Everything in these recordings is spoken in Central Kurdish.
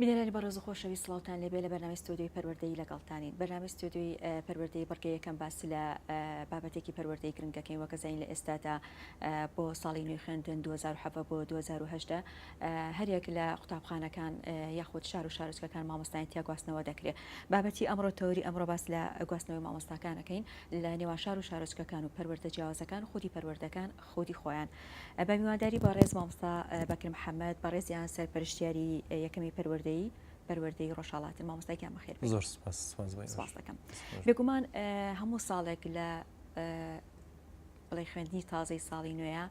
بینەرانی بەڕێز و خۆشەویست سڵاوتان لێبێ لە بەرنامەی ستۆدیۆی پەروەردەیی لەگەڵتانین بەرنامەی ستۆدیۆی پەروەردەیی بڕگەی یەکەم باسی لە بابەتێکی پەروەردەی گرنگ دەکەین وەکە زانین لە ئێستادا بۆ ساڵی نوێی خوێندن 2007 بۆ 2018 هەریەک لە قوتابخانەکان یاخود شار و شارۆچکەکان مامۆستایان تیا گواستنەوە دەکرێت بابەتی ئەمڕۆ تەوری ئەمڕۆ باس لە گواستنەوەی مامۆستاکانەکەین لە نێوان شار و شارۆچکەکان و پەروەردە جیاوازەکان خودی پەروەردەکان خودی خۆیان. بە میوانداری بەڕێز مامۆستا بەکر محەمەد بەڕێزیان سەرپەرشتیاری یەکەمی پەروەردەی پەروەردەی ڕۆژهەڵاتن مامۆستا گیان بەخێر بێن. زۆر سپاس سپاس بۆ ئێوەش. سپاس دەکەم. بێگومان هەموو ساڵێک لە بڵێ خوێندنی تازەی ساڵی نوێیە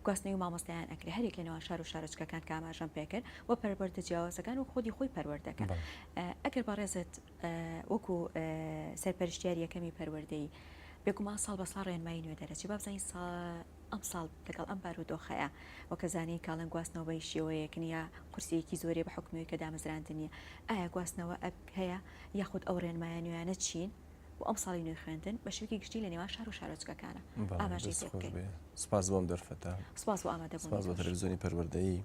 گواستنەوەی مامۆستایان ئەکرێ هەرێک لە نێوان شار و شارۆچکەکان کە ئاماژەم پێ کرد و پەروەردە جیاوازەکان و خودی خۆی پەروەردەکە ئەگەر بەڕێزت وەکو سەرپەرشتیار یەکەمی پەروەردەیی بێگومان ساڵ بەساڵ ڕێنمایی نوێ دەرەچی بابزانین سا ئەمساڵ لەگەڵ ئەم بارودۆخەیە وەکە زانین کاڵن گواستنەوە بە شێوەیەک نییە قورسێکی زۆرێ بە حکومەوەی کە دامەزراند نییە ئایا گواستنەوە ئەپ هەیە یاخود ئەو ڕێنمایە نوێیانە چین؟ بۆ ئەم ساڵی نوێی خوێندن بە شوکی گشتی لە نێوان شار و شارۆچکەکانە ئاماژەی سپاس بۆم دەرفەتە سپاس بۆ ئامادەبوونی تەلەفزیۆنی پەروەردەیی.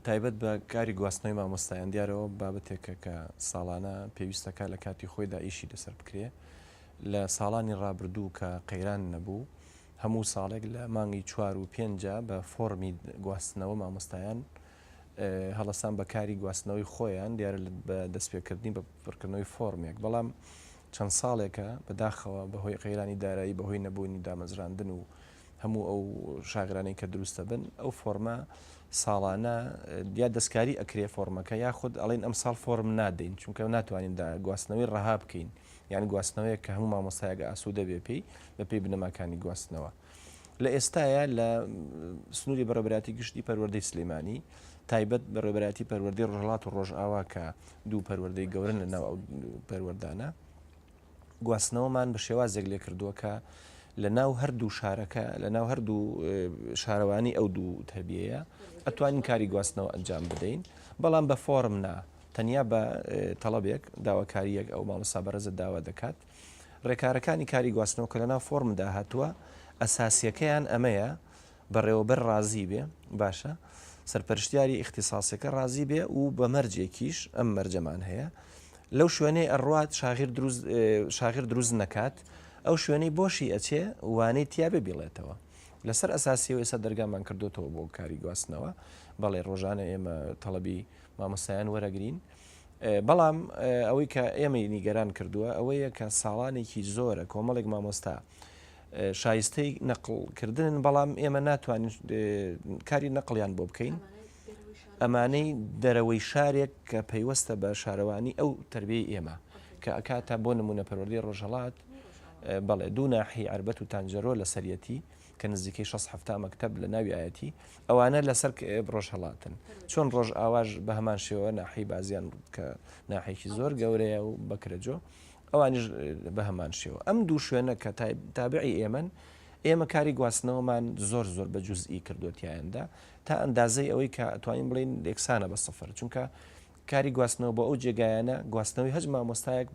تایبەت بە کاری گواستنەوەی مامۆستایان دیارە ئەوە بابەتێکە کە ساڵانە پێویستە کار لە کاتی خۆیدا ئیشی لەسەر بکرێ لە ساڵانی ڕابردوو کە قەیران نەبوو هەموو ساڵێک لە مانگی چوار و پێنجە بە فۆڕمی گواستنەوە مامۆستایان هەڵسان بە کاری گواستنەوەی خۆیان دیارە بە دەستپێکردنی بە پڕکردنەوەی فۆرمێک بەڵام چەند ساڵێکە بەداخەوە بەهۆی قەیرانی دارایی بەهۆی نەبوونی دامەزراندن و هەموو ئەو شاغرانەی کە دروستە بن ئەو فۆرمە ساڵانە یا دەستکاری ئەکرێ فۆرمەکە یاخود ئەڵین ئەم ساڵ فۆرم نادەین چونکە ناتوانین دا گواستنەوەی ڕەها بکەین یان گواستنەوەیە کە هەموو مامۆستایەکە ئاسوودە بێ پێی بە پێی بنەماکانی گواستنەوە. لە ئێستاە لە سنووری بەڕێبراتی گشتی پەروەردەی سلێمانی تایبەت بە ڕێبەتی پەروەردەی ڕژڵات و ڕۆژئاوا کە دوو پەروەردەی گەورن لە ناو پەروەردانە گواستنەوەمان بە شێوازێک لێ کردووە کە لە ناو هەردوو شارەکە لە ناو هەردوو شارەوانی ئەو دوو تەبیەیە ئەتوانین کاری گواستنەوە ئەنجام بدەین بەڵام بە فۆرم نا تەنیا بە تەڵەبێک داواکاریەک ئەو مامۆستا بەرەزە داوا دەکات ڕێکارەکانی کاری گواستنەوە کە لە ناو فۆرمدا هاتووە ئەساسیەکەیان ئەمەیە بەڕێوەبەر ڕازی بێ باشە سەرپەرشتیاری ئیختیساسەکە ڕازی بێ و بە مەرجێکیش ئەم مەرجەمان هەیە لەو شوێنەی ئەڕات شاغیر دروست شاغیر دروست نەکات ئەو شوێنەی بۆشی ئەچێ وانەی تیا بێ بیڵێتەوە لەسەر ئەساسی و ئێستا دەرگامان کردوتەوە بۆ کاری گواستنەوە بەڵێ ڕۆژانە ئێمە تەڵەبی مامۆسایان وەرەگرین بەڵام ئەوەی کە ئێمەی نیگەران کردووە ئەوەیە کە ساڵانێکی زۆرە کۆمەڵێک مامۆستا شایستەی نەقڵ کردنن بەڵام ئێمە ناتوانین کاری نەقلیان بۆ بکەین ئەمانەی دەرەوەی شارێک کە پەیوەستە بە شارەوانی ئەو تربیەی ئێمە کە ئەکاتە بۆ نمونە پەروەردی ڕۆژهڵات بەڵێ دوو ناحی عربەت و تانجەرۆ لە سەرەتی کە نزیکەی 6 مەکتب لە ناویایەتی ئەوانە لەسەر ڕۆژ هەڵاتن چۆن ڕۆژ ئاواش بە هەمان شێوە ناحی بازیان کە ناحێکی زۆر گەورەیە و بەکرەجۆ ئەوانیش بەهەمان شێوە. ئەم دوو شوێنە کە تابعی ئێمەن، ئێمە کاری گواستنەوەمان زۆر زۆر بە جوزئی کردووە تیایاندا، تا ئەندازەی ئەوەی کە ئەتوانین بڵێین یەکسانە بە سفر، چونکە کاری گواستنەوە بۆ ئەو جێگایانە، گواستنەوەی هەچ مامۆستایەک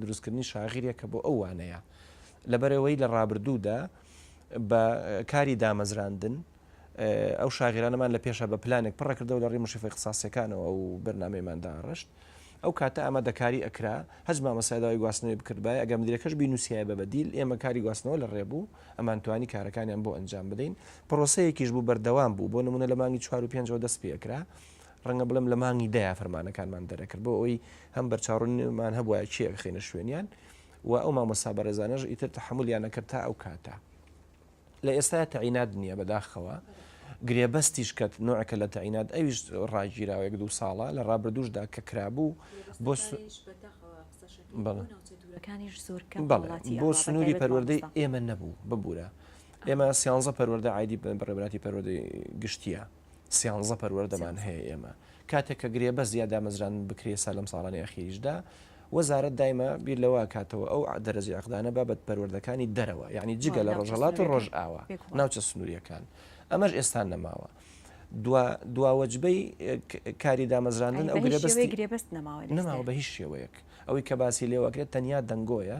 دروستکردنی شاغیریەکە بۆ ئەو وانەیە، لەبەرئەوەی لە ڕابردوودا بە کاری دامەزراندن، ئەو شاغێرانەمان لە پێشا بە پلانێک پڕە کردەوە لە ڕێی مشریفە ئیخساسیەکانەوە ئەو بەرنامەیەمان داڕشت ئەو کاتە ئامادەکاری ئەکرا هەچ مامەسای داوای گواستنەوەی بکردبای ئەگەر مدیرەکەش بینوسیایە بە بەدیل ئێمە کاری گواستنەوە لە ڕێ بوو ئەمان توانی کارەکانیان بۆ ئەنجام بدەین پرۆسەیەکیش بوو بەردەوام بوو بۆ نمونە لە مانگی چوار و پێنجەوە دەست پێ ئەکرا ڕەنگە بڵێم لە مانگی دەیە فەرمانەکانمان دەرەکرد بۆ ئەوی هەم بەرچاڕونمان هەبووە چیەکەخینە شوێنیان و ئەو مامۆستا بەڕێزانەش ئیتر تحملیان نەکرد تا ئەو کاتە لە ئێستایا تەعینات نییە بەداخەوە گرێبەستیش کە نوعەکە لە تەعینات ئەویش ڕاگیراوێک دوو ساڵە لە ڕابردوشدا کە کرابوو بۆ بۆ سنووری پەروەردەی ئێمە نەبوو ببوورە ئێمە سیانزە پەروەەردە عیدی بڕێبراتی پەروەدەی گشتیە سیانزە پەروەردەمان هەیە ئێمە کاتێک کە گرێبەست یا دامەزراندن بکرێ ئێستا لەم ساڵانەی ئەخیریشدا وەزارەت دایمە بیر لەوە کاتەوە ئەو دەرەجەی عەقدانە بابەت پەروەردەکانی دەرەوە یعنی جگە لە ڕۆژهەڵات و ڕۆژئاوا ناوچە سنووریەکان ئەمەش ئێستا نەماوە. دواوەجبەی کاری دامەزراندن ئەو گرێبەستی گرێبەست نەماوە نەماوە بە هیچ شێوەیەک ئەوەی کە باسی لێوەکرێت تەنیا دەنگۆیە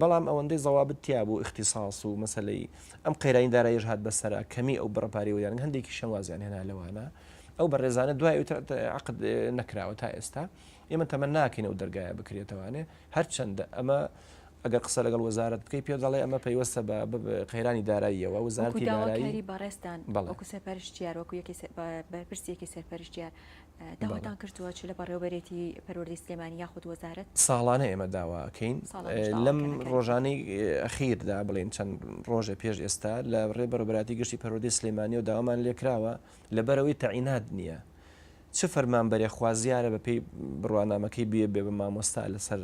بەڵام ئەوەندەی زەوابت تیا بوو ئیختیساس و مەسەلەی ئەم قەیرانی داراییەش هات بەسەرا کەمی ئەو بڕە پارەی وەریان هەندێکیشیان وازیان هێنا لەوانە ئەو بەڕێزانە دوای ئەوتر ت- عەقد اه، نەکراوە تا ئێستا ئێمە تەمە ناکەین ئەو دەرگایە بکرێتەوانێ هەرچەندە ئەمە ئەگەر قسە لەگەڵ وەزارەت بکەی پێ دەڵێ ئەمە پەیوەستە بە بە- بە قەیرانی داراییەوە وەکو وەزارەتی دارایی داواکاری بەڕێزتان بەڵێ. وەکو سەرپەرشتیار وەکو یەکی سەر- بە- بەرپرسی یەکی سەرپەرشتیار داواتان کردووە چ لە بەڕێوەبەرێتی پەروەردەی سلێمانی یاخود وەزارەت؟ ساڵانە ئێمە داوا ئەکەین لەم ڕۆژانەی ئەخیردا بڵێن چەند ڕۆژێ پێش ئێستا لە ڕێ بەرەبەراتی گشتی پەروەردەی سلێمانیەوە داوامان لێکراوە لە بەرەوەی تەعینات نییە چ فەرمانبەرێ خوازیارە بە پێی بڕوانامەکەی بێ بێ بە مامۆستا لەسەر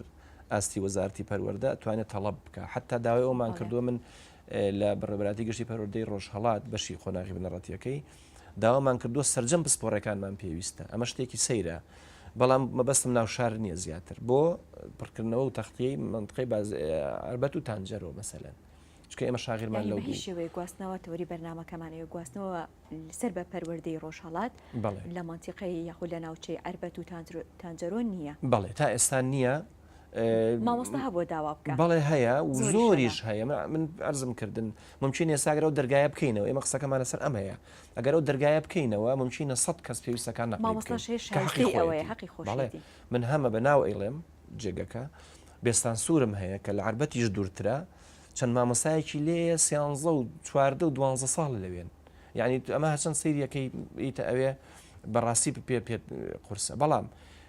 ئاستی وەزارتی پەروەەردە توانێت تەڵب بکە حتا داوای ئەومان کردووە من لە بەڕێبراتی گشتی پەرۆدەی ڕۆژهڵات بەشی قۆناغی بنەڕەتیەکەی داوامان کردووە سەرجەم پسپۆڕێکانمان پێویستە ئەمە شتێکی سەیرە بەڵام مەبەستم ناو شار نییە زیاتر بۆ پڕکردنەوە و تەختیەی منتقی باز ئەربەت و تانجەرۆ مەسەلەن چکە ئێمە شاغرمان لەو شێوەیە گواستنەوە تەوری بەرنمەکەمانەیە گواستنەوە سەر بە پەروەردەی ڕۆژهڵات لە منتیقی یاخود لە ناوچەی ئەربەت و تانجەرۆ نییە بەڵێ تا ئێستا نییە مامۆستا هەبووە داوا بکە بەڵێ هەیە و زۆریشە. زۆریش هەیە من- من عەرزم کردن ممکن ئێستا گەرە و دەرگایە بکەینەوە ئێمە قسەکەمان لەسەر ئەم هەیە ئەگەر ئەو دەرگایە بکەینەوە ممکنە سەد کەس پێویستەکان نەقڵی مامۆستا بکەین شێش کە حەقی شایستەی خۆیەتی. ئەوەیە، حەقی بەڵێ خۆشیەتی. من هەمە بە ناو ئەیڵێم جێگەکە بێستانسوورم هەیە کە لە عەربەتیش دوورترە چەند مامۆستایەکی لێیە سیانزە و چواردە و دوانزە ساڵە لەوێن یعنی ئەمە هەرچەند سەیریەکەی بریتە ئەوێ بەڕاستی پێ پێت قورسە بەڵام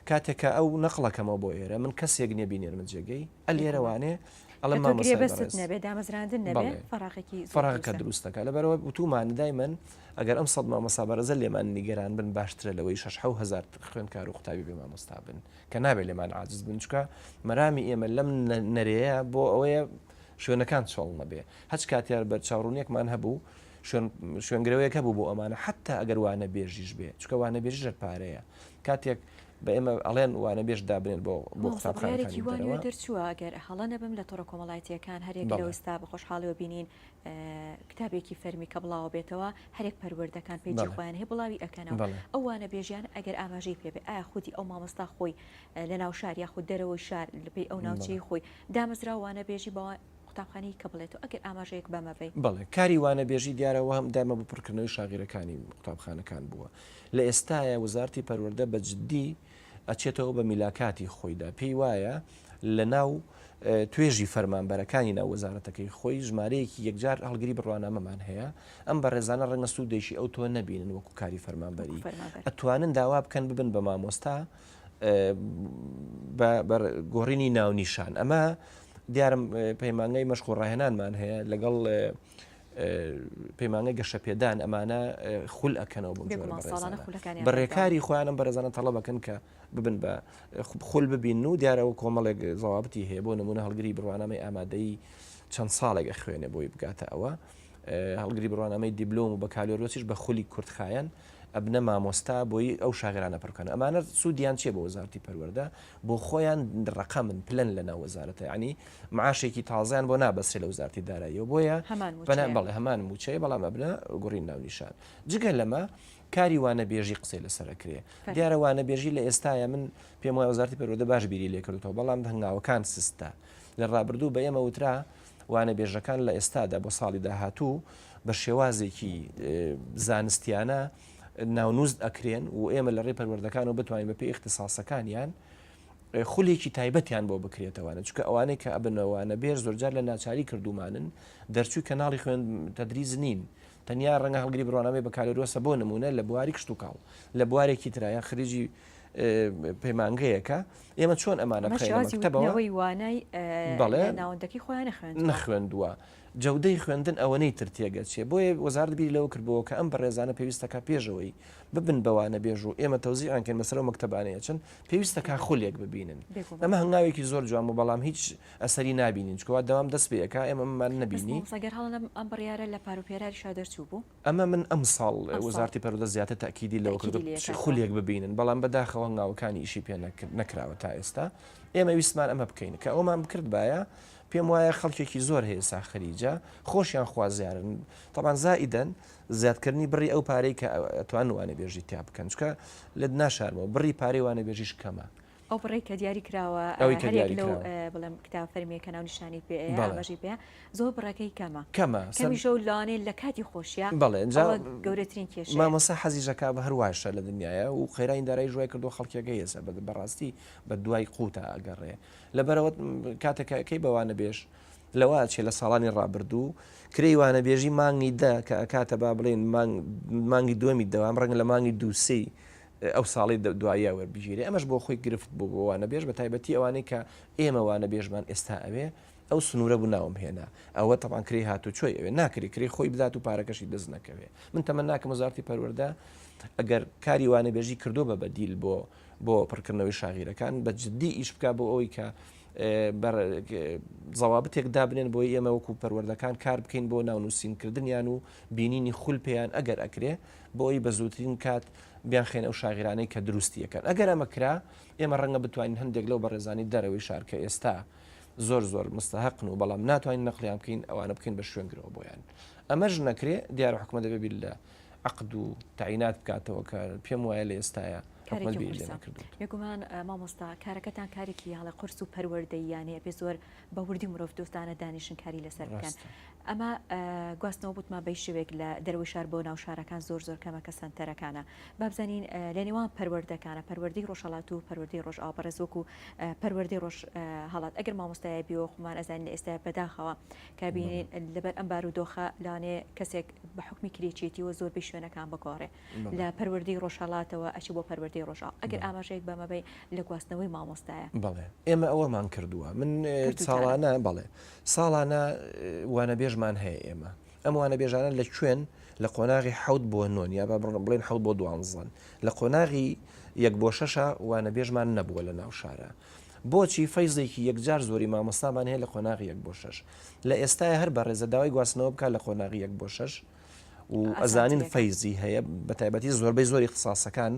کاتێک کە ئەو نەقڵەکەمەوە بۆ ئێرە من کەسێک نیە بینێرمە جێگەی ئە لێرە وانێ ئەڵێ مامۆستای بەڕێز بەڵێ فەراغەکە دروست دەکا لەبەرەوە وتومان دایمەن ئەگەر ئەم سەد مامۆسا بەرەزە لێمان نیگەران بن باشترە لەوەی شش حەو هزار خوێندکار و قوتابی بێ مامۆستا بن کە نابێ لێمان عاجز بن چکە مەرامی ئێمە لەم نەرەیە بۆ ئەوەیە شوێنەکان چۆڵ نەبێ هەچ کاتیار بەر چاڕونیەکمان هەبوو شوێنگرەوەیەکە بوو بۆ ئەمانە حتا ئەگەر وانە بێژیش بێ چکە وانە بێژ ژەر پارەیە کاتێک بە ئێمە ئەڵێن وانەبێژ دابنێن بۆ قوتابخانەکانی دەرەوە. دەرچووە ئەگەر هەڵە نەبم لە تۆڕە کۆمەڵایەتییەکان هەریەک لە ئێستا بە خۆشحاڵیەوە بینین کتابێکی فەرمی کە بڵاوە بێتەوە هەرێک پەروەردەکان پێی خۆیان هەیە بڵاوی ئەکەنەوە ئەو وانەبێژیان ئەگەر ئاماژەی پێ بێ ئایا خودی ئەو مامۆستا خۆی لە ناو شار یاخود دەرەوەی شار لەپی ئەو ناوچەی خۆی دامەزرا وانەبێژی بەوە قوتابخانی کە بڵێتەوە ئەگەر ئاماژەیەک بەمەبەی بڵێ کاری وانەبێژی دیارەوە هەم دایمە بە پڕکردنەوەی شاغیرەکانی قوتابخانەکان بووە لە ئێستایا وزارتی پەروەردە بە جدی ئەچێتەوە بە میلاکاتی خۆیدا پێی وایە لە ناو توێژی فەرمانبەرەکانی ناو وەزارەتەکەی خۆی ژمارەیەکی یەکجار هەڵگری بڕوانامەمان هەیە ئەم بەڕێزانە ڕەنگە سوودێکی ئەو تۆ نەبینن وەکو کاری فەرمانبەری ئەتوانن داوا بکەن ببن بە مامۆستا بە گۆڕینی ناونیشان ئەمە دیارم پەیمانگای مەشق و ڕاهێنانمان هەیە لەگەڵ پەیمانگە گەشەپێدان ئەمانە خول ئەکەنەوە بۆ بە ڕێکاری خۆیانم بەرەزانە تەڵە بەکەن کە ببن بە خول ببین و دیارەوە کۆمەڵێک زەوابتی هەیە بۆ نمونە هەڵگری بڕوانامەی ئامادەی چەند ساڵێک ئەخوێنێ بۆی بگاتە ئەوە هەڵگری بڕوانامەی دیبلۆم و بەکالۆرۆسیش بە خولی کورتخایەن ئەبنە مامۆستا بۆی ئەو شاگەرانە پڕ بکەن ئەمانە سودیان چیە بۆ وەزارتی پەروەردە بۆ خۆیان ڕقەمن پلەن لە ناو وەزارەتە ینی معاشێکی تازیان بۆ نابەسێ لە وزارتی داراییەوە بۆیە بەە بەڵێ هەمان موچەیە بەڵام ئەبنە گوڕین ناونیشان جگە لەمە کاری وانە بێژی قسەی لەسەرکرێ دیارە وانە بێژی لە ئێستاە من پێم وای وزارتی پەرۆدە باش بیری لێکردەوە بەڵام هەنگاوەکان سستە لە ڕابردوو بە ئێمە وترا وانەبێژەکان لە ئێستادا بۆ ساڵی داهاتوو بە شێوازێکی زانستیانە ناونوست ئەکرێن و ئێمە لە ڕێ پەروەردەکانەوە بتوانین بە پێی اختصاسەکانیان خولێکی تایبەتیان بۆ بکرێتەوەە چکە ئەوانەی کە ئەبنەوەوانە بێر زۆرجار لە ناچاری کردومانن دەرچووی کەناڵی خوێن تدریز نین تەنیا ڕەنگە هەڵگری بڕوانامەی بەکالۆرۆسە بۆ نمونە لە بواری کشت و کاڵ لە بوارێکی ترایە خرجی پەیمانگەیەکە ئێمە چۆن ئەمانە بخەینە مەکتەبەوە؟ ئەمە شێوازی وتنەوەی وانای لە ناوەندەکەی خۆیان نەخوێندووە. نەخوێندووە. جەودەی خوێندن ئەوەنەی تر تێگەچێ. بۆیە وەزارەت بیری لەوە کردبۆوە کە ئەم بەڕێزانە پێویستەکا پێشەوەی ببن بە وانەبێژ و ئێمە تەوزیعیان کەین بەسەر ئەو مەکتەبانەی ئەچن، پێویستەکا خولێک ببینن. ئەمە هەنگاوێکی زۆر جوان بوو، بەڵام هیچ ئەسەری نابینین، چونکە وا دەوام دەست پێ ئەکا، ئێمە ئەمەمان نەبینی. بەس مامۆستا گەر هەڵە نەبم ئەم بڕیارە لە پار و پێراریشا دەرچووبوو؟ ئەمە من ئەمساڵ وەزارەتی پەروەردە زیاتر تەئکیدی لەوە کردووە تئکیدی لێ کراوە. خولێک ببینن، بەڵام بە داخەوە هەنگاوەکانی ئیشی پێ نەکرد نەکراوە تا ئێستا. ئێمە ویستمان ئەمە بکەین. کە ئەوەمان بکردبایە پێم وایە خەڵکێکی زۆر هەیە ئێستا خەریجە، خۆشیان خوازیارن، تەبعەن زائیدەن زیاد کردنی بڕی ئەو پارەی کە ئەتوانن وانەبێژی تیا بکەن، چونکە لێت ناشارمەوە بڕی پارەی وانەبێژیش کەمە. ئەو بڕەی کە دیاری کراوە هەریەک لەو بڵێم کتاب فەرمیە کە ناو نیشانی پێ ئاماژەی پێ زۆر بڕەکەی کەمە کەمە کەمیشە و لانێ لە کاتی خۆشیە بڵێ گەورەترین کێش مامەسا حەزیژەکە بە هەرواشە لە دنیاە و قەیرانی دارای ژوای کردو خەڵکێکە هێسە بە بەڕاستی بە دوای قوتە ئەگەڕێ لەبەرەوە کاتەکەکەی بەوانە بێش لەوە چێ لە ساڵانی ڕابردوو کرێی وانەبێژی مانگی دە کە ئەکاتە با بڵێن مانگی دووەمی دەوام ڕەنگ لە مانگی دووسی ئەو ساڵەی دواییە وەربگیرێ ئەمەش بۆ خۆی گرفت بوو بۆ وانەبێژ بە تایبەتی ئەوانەی کە ئێمە وانەبێژمان ئێستا ئەوێ ئەو سنوورە بوو ناوم هێنا ئەوە تەبان کرێ هاتو چۆی ئەوێ ناکری کرێ خۆی بدات و پارەکەشی دەست نەکەوێ من تەمە ناکەم وزارتی پەروەەردە ئەگەر کاری وانەبێژی کردو بە بەدیل بۆ بۆ پڕکردنەوەی شاغیرەکان بە جددی ئیش بک بۆ ئەوی کە زەوابتێک دابنێن بۆ ئێمە وەکو پەروەردەکان کار بکەین بۆ ناونووسینکردنیان و بینینی خول پێیان ئەگەر ئەکرێ بۆ ئەوی بە زووترین کات بیانخەینە ئەو شاغرانەی کە دروستیەکەن ئەگەر ئەمە کرا ئێمە ڕەنگە بتوانین هەندێک لەو بەڕێزانی دەرەوەی شار کە ئێستا زۆر زۆر مستەهقن و بەڵام ناتوانین نەقلیان بکەین ئەوانە بکەین بە شوێنگرەوە بۆیان ئەمەش نەکرێ دیارە حکومە دەبێ بیر لە عقد و تعینات بکاتەوە کە پێم وایە لە ئێستاە بێگومان مامۆستا کارەکەتان کارێکی هەڵە قرس و پەروەردەیانەیە پێ زۆر بە وردی مرۆڤ دۆستانە دانیشنکاری لەسەر بکەن ئەمە گواستنەوە بۆ تما بەی شێوەیەک لە دەرەوەی شار بۆ ناو شارەکان زۆر زۆر کەمە کە سەنتەرەکانە با بزانین لە نێوان پەروەردەکانە پەروەردەی ڕۆژهەڵات و پەروەردەی ڕۆژئاوا بەڕێز وەکو پەروەردەی ڕۆژ هەڵات ئەگەر مامۆستایە بیەوە خۆمان ئەزانین لە ئێستا بەداخەوە کە بینین لەبەر ئەم بار و دۆخە لانێ کەسێک بە حکمی کرێچێتیەوە زۆربەی شوێنەکان بگۆڕێ لە پەروەردەی ڕۆژهەڵاتەوە ئەچی بۆ پەروەردەی ڕۆژا ئەگەر ئاماژەیەک بەمەبەی لە گواستنەوەی مامۆستایە بەڵێ ئێمە ئەوەمان کردووە من ساڵانە بەڵێ ساڵانە وانەبێژمان هەیە ئێمە ئەم وانەبێژانە لە کوێن لە قۆناغی حەوت بۆ نۆن یا بە بڕم بڵێن حەوت بۆ دوانزەن لە قۆناغی یەک بۆ شەشە وانەبێژمان نەبووە لە ناو شارە بۆچی فەیزێکی یەکجار زۆری مامۆستامان هەیە لە قۆناغی یەک بۆ شەش لە ئێستای هەر بە ڕێزە داوای گواستنەوە بکە لە قۆناغی یەک بۆ شەش و ئەزانین فەیزی هەیە بە تایبەتی زۆربەی زۆری اختصاسەکان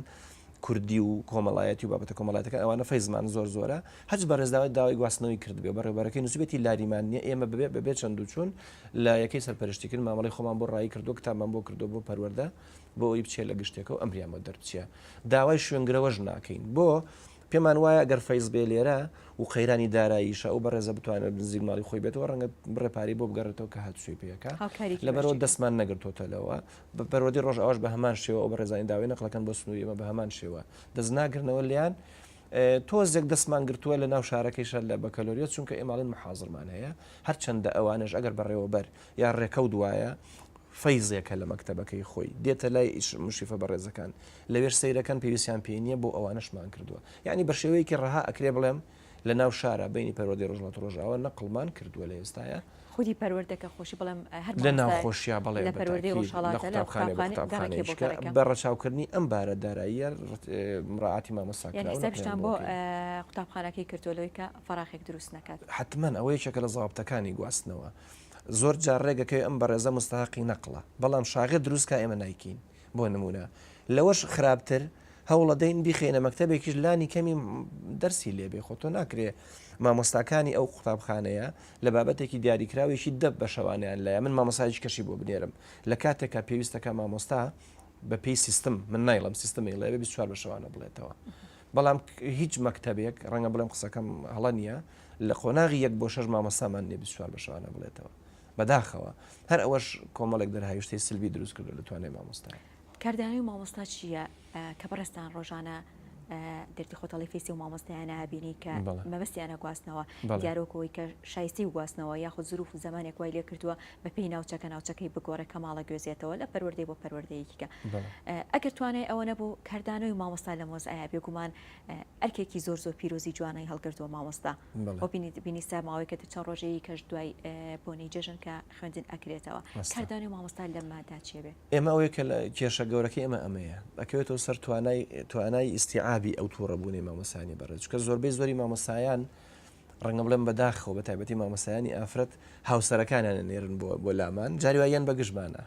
کوردی و کۆمەڵایەتی و بابەتە کۆمەڵاتەکە ئەوانە فەیزمان زۆر زۆرە هەچ بەڕێزداوای داوای گواستنەوەی کردبێ بەڕێبەرەکەی نووسبێتی لاریمان نیە ئێمە ببێ بەبێ چەند و چوون لە یەکەی سەرپەرشتی کرد مامەڵی خۆمان بۆ ڕایی کردو کتابمان بۆ کردو بۆ پەروەەردە بۆ ئەوی بچێ لە گشتێکەوە ئەمریان بۆ دەربچە داوای شوێنگرەوەش ناکەین بۆ پێمان وایە گەر فەیز بێ لێرە و قەیرانی داراییشە ئەو بەڕێزە بتوانێت نزیک ماڵی خۆی بێتەوە ڕەنگە بڕێ پارەی بۆ بگەڕێتەوە کە هاتوچۆی پێ کە هاوکاریکی لەبەرەوە بەشێکی. دەستمان نەگرتۆتەلەوە بە پەروەردەی ڕۆژئاواش بە هەمان شێوە ئەو بەڕێزانەی داوای نەقڵەکەن بۆ سنووری ئێمە بە هەمان شێوە دەست ناگرنەوە لێیان ئێ تۆزێک دەستمان گرتووە لە ناو شارەکەیشە لە بەکەلۆریۆس چونکە ئێمە ئەڵێن محاضرمان هەیە هەرچەندە ئەوانەش ئەگەر بەڕێوەبەر یا ڕێکەوت وایە فەیزێکە لە مەکتەبەکەی خۆی دێتە لای ئیش مشریفە بەڕێزەکان لەوێش سەیرەکەن پێویستیان پێی نیە بۆ ئەوانەشمان کردوە یانی بەشێوەیەکی ڕەها ئەکرێ بڵێم لەناو شارا بینی پەروەردەی ڕۆژهەڵاتی ڕۆژئاوا نەقڵمان کردوە لە ئێستایا خودی پەروەردەکە خۆشی بڵێم هەر مامۆستا لەناوخۆشیا بەڵێ لە پەروەردەی بەتاکید لە ڕۆژهەڵاتە لە قوتابخانەی بە قوتابخانە گەڕەکێ بۆ قوتابخانەیشکە گەڕەکە بە ڕەچاوکردنی ئەم بارە داراییە ڕت مراعاتی مامۆستا یانی کراو نەقڵیان حیسابیشتان بۆ بۆ کەین. قوتابخانەکەی کردوە لەوەی کە فەراخێک دروست نەکات. حەتمەن ئەوە یەکێکە لە زابتەکانی گواستنەوە زۆر جار ڕێگەکەوێ ئەم بەڕێزە مستەهەقی نەقڵە بەڵام شاغێ دروست کا ئێمە نایکەین. بۆ نموونە لەوەش خراپتر هەوڵەدەین بیخەینە مەکتەبێکیش لانی کەمی دەرسی لێبێ خۆ تۆ ناکرێ مامۆستاکانی ئەو قوتابخانەیە لە بابەتێکی دیاریکراوێکی دە بە شەوانیان لایە من مامۆسایج کەشی بۆ بنێرم لە کاتێکا پێویستەکە مامۆستا بە پێی سیستم من نایڵم سیستمی لەوێ 24 بە شەوانە بڵێتەوە بەڵام هیچ مەکتتەبێک ڕەنگە بڵێم قسەکەم هەڵە نییە لە قۆناغی یەک بۆ شەش مامۆستامان نیە 24 بە شەوانە بڵێتەوە بەداخەوە هەر ئەوەش کۆمەڵێک دەرهاویشتەی سلبی دروست کردوە لە توانای مامۆستا. کاردانەوەی مامۆستا چییە کە بەڕێزتان ڕۆژانە گردی خۆتەڵی فیسی و مامۆستایانە ئەبینی کە مەبەستیانە گواستنەوە دیارە وەکو ئەوەی کە شایستەی گواستنەوە یاخود زروف و زەمانێک وای لێ کردووە بەپێی ناوچەکە ناوچەکەی بگۆڕێ کە ماڵە گوێزێتەوە لە پەروەردەی بۆ پەروەردەیەکیکە ئەگەر توانای ئەوە نەبوو کاردانەوەی مامۆستا لەم وەزعەیە بێگومان ئەرکێکی زۆر زۆر پیرۆزی جوانەی هەڵگردووە مامۆستا بۆ بینیستا ماوەیەکەت چەند ڕۆژەیە کەش دوای بۆنی جەژن کە خوێندن ئەکرێتەوە کاردانی مامۆستا لەمەدا چێ بێ ئێمە ئەوەیە کە کێشە گەورەکە ئێمە ئەمەیە ئەکەوێتەوە سەر توانای توانای ئیسیعابی ئەو تووڕە بوونی مامۆسانی بەڕێ چکە زۆربەی زۆری مامۆسایان ڕەنگە بڵێن بە داخەوە بە تایبەتی مامۆستایانی ئافرەت هاوسەرەکانیان ئەنێرن بۆ بۆ لامان، جاری وا یان بە گژمانە.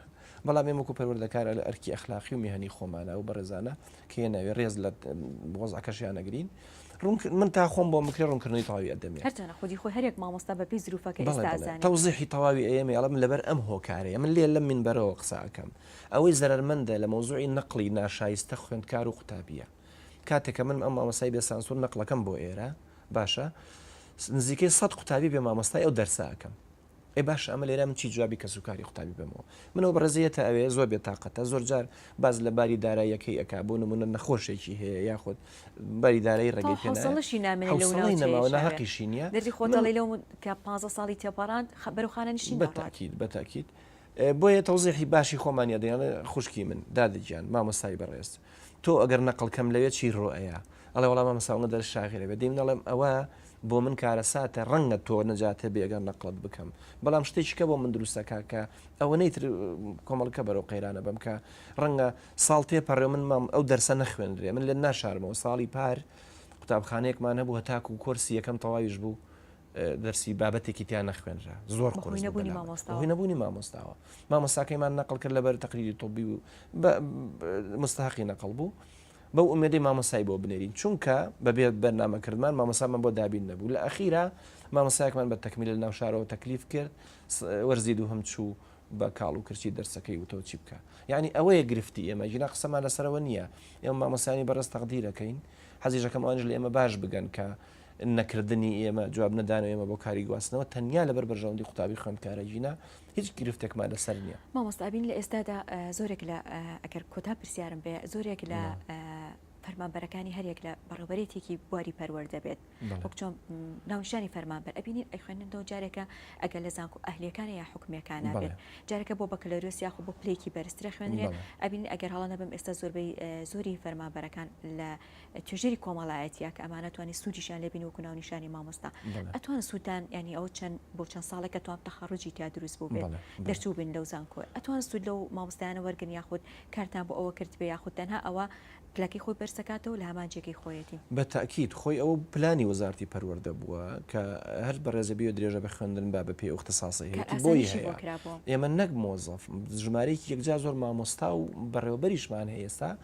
بەڵام ئێمە وەکوو پەروەردەکار ئەلە ئەرکی ئەخلاقی و مێهنی خۆمانە ئەو بەڕێزانە کە هێناوی ڕێز لە وەزعەکەشیان ئەگرین. ڕوون ک من تا خۆم بۆم بکرێ ڕوونکردنەوەی تەواوی ئەدەمێ. هەر چەنە خودی خۆی هەر یەک مامۆستا بە پێی زروفە کە بەڵێ ئێستا بەڵێ ئەزانین. تەوزیحی تەواوی ئەیەمێ ئەڵێم لەبەر ئەم هۆکارەیە من لێ لەم مینبەرەوە قسە ئەکەم. ئەوەی زەرەرمەندە لە مەوزوعی نەقڵی ناشایستە خوێندکار و قوتابییە. کاتێ کە من ئەم مامۆستای بێ سانسور نەقڵەکەم بۆ ئێرە. باشە نزیکەی سەد قوتابی بێ مامۆستای ئەو دەرسە ئەکەم ئێ باش ئەمە لێرە من چی جوابی کەس و کاری قوتابی بمەوە منەوە بەڕێزیەتە ئەوێ زۆر بێ تااقەتە زۆر جار باز لە باری داراییەکەی ئەک بۆ نمونە نەخۆشێکی هەیە یاخود باری دارایی ڕێگەی پێناڵشی نامێنەقیشی نیە دەی خۆتەڵی لەو کە پ ساڵی تێپەڕان خبرخانە نشین بەتاکیید بەتاکیید بۆیە تەوزیحی باشی خۆمانە دەیانڵێ خوشکی من دادەگیان مامۆستای بەڕێز تۆ ئەگەر نەقڵ کەم لەوێ چی ڕوو ئەیا؟ ئەڵێ وەڵا مامۆستا ئەوەندە دەرس شاغێلە بێ. دەی من ئەڵێم ئەوە بۆ من کارەساتە ڕەنگە تۆ نەجات هەبی ئەگەر نەقڵت بکەم بەڵام شتێکی کە بۆ من دروستە کە کە ئەوەنەی تر کۆمەڵکە بەرەو قەیرانە بم کە ڕەنگە ساڵ تێپەڕێ من مام ئەو دەرسە نەخوێنرێ من لێت ناشارمەوە ساڵی پار قوتابخانەیەکمان هەبوو هەتاکو کۆرسی یەکەم تەواویش بوو دەرسی بابەتێکی تیا نەخوێنرا زۆر قوڕی نەبوونی مامۆستا هی نەبوونی مامۆستاوە مامۆستاکەیمان نەقل کرد لەبەر تەقریری تۆبی و مستحقی نەقل بوو بەو ئومێدەی مامۆسای بۆ بنێرین چونکە بەبێ بەرنامە کردمان مامۆسامان بۆ دابین نەبوو لە ئەخیرا مامۆسایەکمان بە تەکمیل لە ناوشارەوە تەکلیف کرد وەرزی دوو هەم چوو بە کاڵ و کرچی دەرسەکەی وتەوە چی بکە یعنی ئەوەیە گرفتی ئێمە ژنا قسەمان لەسەرەوە نییە ئێمە مامۆسانی بەڕێز تەقدیرەکەین حەزیشەکەم ئەوانش لە ئێمە باش بگەن کە نەکردنی ئێمە، جواب نەدان و ئێمە بۆ کاری گواستنەوە، تەنیا لەبەر بەرژەوەندی قوتابی خوێندکارە ژینا، هیچ گرفتێکمان لەسەر نییە. مامۆستا ئەبین لە ئێستادا زۆرێک لە، ئەگەر کۆتا پرسیارم بێ، زۆرێک لە فەرمانبەرەکانی هەر یەک لە بەڕێوەبەرێتیەکی بواری پەروەردە بێت، وەک چۆن ناونیشانی فەرمانبەر ئەبینین ئەیخوێننەوە، جارێکە ئەگەر لە زانکۆ ئەهلییەکانە یا حکومییەکانە بێت، جارێکە بۆ بەکەلۆریۆس یاخود بۆ پلەیەکی بەرزتر ئەخوێنرێ، ئەبینین ئەگەر هەڵە نەبم ئێستا زۆربەی زۆری فەرمانبەرەکان لە، توێژەری کۆمەڵایەتە کە ئەمانە توانانی سوودیشان لێبین وەکو ناونیشانی مامۆستا ئەتوان سوودان ینی ئەو چەند بۆ چەند ساڵێک کە توان تەخەڕجی تا دروست بوو بێت دەرچوو بن لەو زانکۆ ئەتوان سوود لەو مامۆستایانە وەرگن یاخود کارتان بۆ ئەوە کرد بێ یاخود تەنها ئەوە پلەکەی خۆی بەرزەکاتەوە لە هەمانجێکی خۆیەتی بە تاکیید خۆی ئەوە پلانی وەزارتی پەروەردە بووە کە هەر بەڕێزە بیەوە درێژە بە خوێندن با بە پێی ئوختساسی هەیەی بۆی هەیە ئێمە نەک مۆزەف ژمارەیەکی یەکجار زۆر مامۆستا و بەڕێوەبەریشمان هەیە ئێستا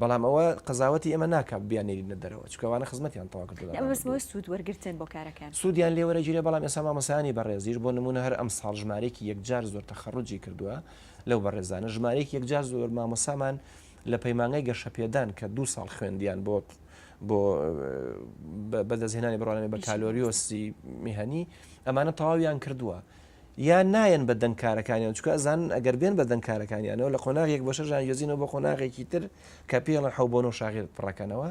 بەڵام ئەوە قەزاوەتی ئێمە ناکات بیانێرینە دەرەوە چونکە ئەوانە خزمەتیان تەواو کردووە ئەمە بەس بۆ سوود وەرگرتن بۆ کارەکان سوودیان لێ وەرەگیرێ بەڵام ئێستا مامۆستایانی بەڕێزیش بۆ نموونە هەر ئەمساڵ ژمارەیەکی یەکجار زۆر تەخەڕوجی کردووە لەو بەڕێزانە ژمارەیەکی یەکجار زۆر مامۆستامان لە پەیمانگای گەشەپێدان کە دوو ساڵ خوێندیان بۆ بۆ بەدەستهێنانی بڕوانامەی بەکالۆریۆسی میهنی ئەمانە تەواویان کردووە یان نایەن بە دەنگ کارەکانیان چونکە ئەزانن ئەگەر بێن بە دەنگ کارەکانیانەوە لە قۆناغێک بەشە ژان یۆزینەوە بۆ قۆناغێکی تر کە پێڵە حەو بۆ نۆ شاغێت پڕەکەنەوە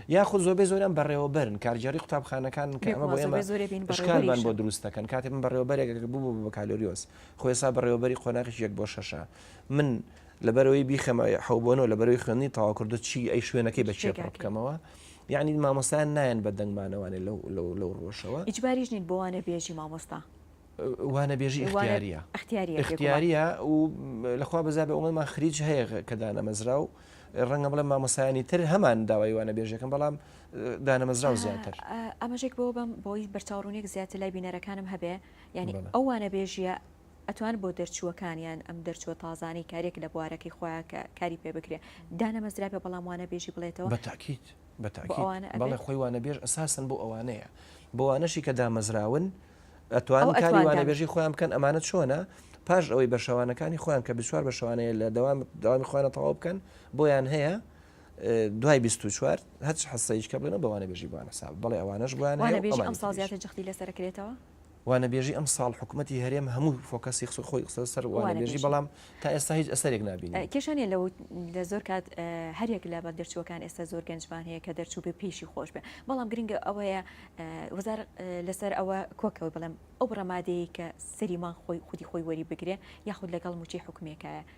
یاخود زۆربەی زۆران بەڕێوەبەرن کارگێڕی قوتابخانەکان کە ئەمە بۆ ئێمە شکالمان بۆ دروستەکەن کاتێ من بەڕێوەبەرێک بوو بە بەکالۆریۆس خۆێسا بەڕێوەبەری قۆناغی یەک بۆ شەشە من لەبەرەوەی بیخەمە حەوبۆنەوە لەبەرەوەی خوێنی تاواکردو چی ئەی شوێنەکەی بە چێ بکەمەوە یعنی مامۆستایان نایەن بە دەنگمانەوانێ لەو لەو لەو ڕۆژەوە ئیجباریش نین بۆوانە بێژی مامۆستا وانەبێژی ئختیاریە ئختیاریە و لەخوا بەزا بە ئەومەمان خریج هەیە کە دانەمەزرا و ڕەنگە بڵێ مامۆسایانی تر هەمان داوای وانە بێژەکەم بەڵام دانەمەزرا و زیاتر ئەمەژێک بۆ بم بۆی بەرچاوڕونێک زیاتر لای بینەرەکانم هەبێ ینی ئەو وانە بێژیە ئەتوان بۆ دەرچووەکانیان ئەم دەرچووە تازانەی کارێک لە بوارەکەی خۆیان کە کاری پێ بکرێ دانەمەزرا بە بەڵام وانە بێژی بڵێتەوە بەتاکییت. بە تاکید بەڵێ خۆی وانەبێژ ئەساسن بۆ ئەوانەیە بۆوانەشی کە دامەزراون ئەتوان کاری وانەبێژی خۆیان بکەن ئەمانە چۆنە پاش ئەوەی بە شەوانەکانی خۆیان کە بسوار بە شەوانەیە لە دەوام داوامی خۆیانە تەواو بکەن بۆیان هەیە دوای 24 هەچ حسەیش کە بڵێنە بەوانە بێژی بوانە ساب بڵێ ئەوانش بوانە بێژی ئەم سازیاتە جختی لەسەرکرێتەوە وانەبێژی ئەمساڵ حکومەتی هەرێم هەموو فۆکەسی خسو خۆی قسە سەر وانەبێژی بەڵام تا ئێستا هیچ ئەسەرێک نبین کێشانە لە لە زۆر کات هەرێک لە بەند دەرچووەکان ئێستا زۆر گەنجمان هەیە کە دەرچوو بێ پێشی خۆش بێ بەڵام گرنگە ئەوەیە وزار لەسەر ئەوە کۆکەوە بڵێم ئەو ڕمادەیە کە سەریمان خۆی خودی خۆی وەری بگرێ یاخود لەگەڵ موچەی حکومێکایە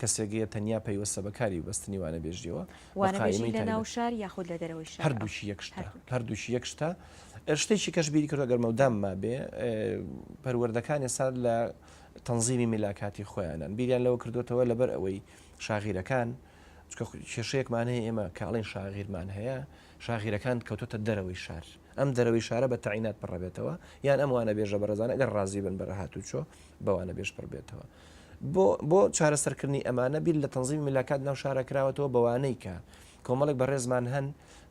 کەسێک یە تەنیا پەیوەستە بە کاری بەستنی وانەبێژیەوە بە قایمەی تایبەت. وانەبێژی لە ناو شار یاخود لە دەرەوەی شار؟ هەردووکی یەک شتە. هەردووکی یەک شتە. شتێکی کەش بیری کردوە گەر مەودام مابێ پەروەردەکان ئێستا لە تەنزیمی میلاکاتی خۆیانن. بیریان لەوە کردوەتەوە لەبەر ئەوەی شاغیرەکان چکە کێشەیەکمان هەیە ئێمە کە ئەڵێن شاغیرمان هەیە شاغیرەکان کەوتوتە دەرەوەی شار. ئەم دەرەوەی شارە بە تەعینات پڕەبێتەوە یان ئەم وانەبێژە بەڕێزانە گەر ڕازی بن بە هاتوچۆ بە وانەبێژ پڕبێتەوە. بۆ بۆ چارەسەرکردنی ئەمانە بیر لە تەنزیمی ملاکات ناو شارە کراوەتەوە بەوانەی کە کۆمەڵێک بەڕێزمان هەن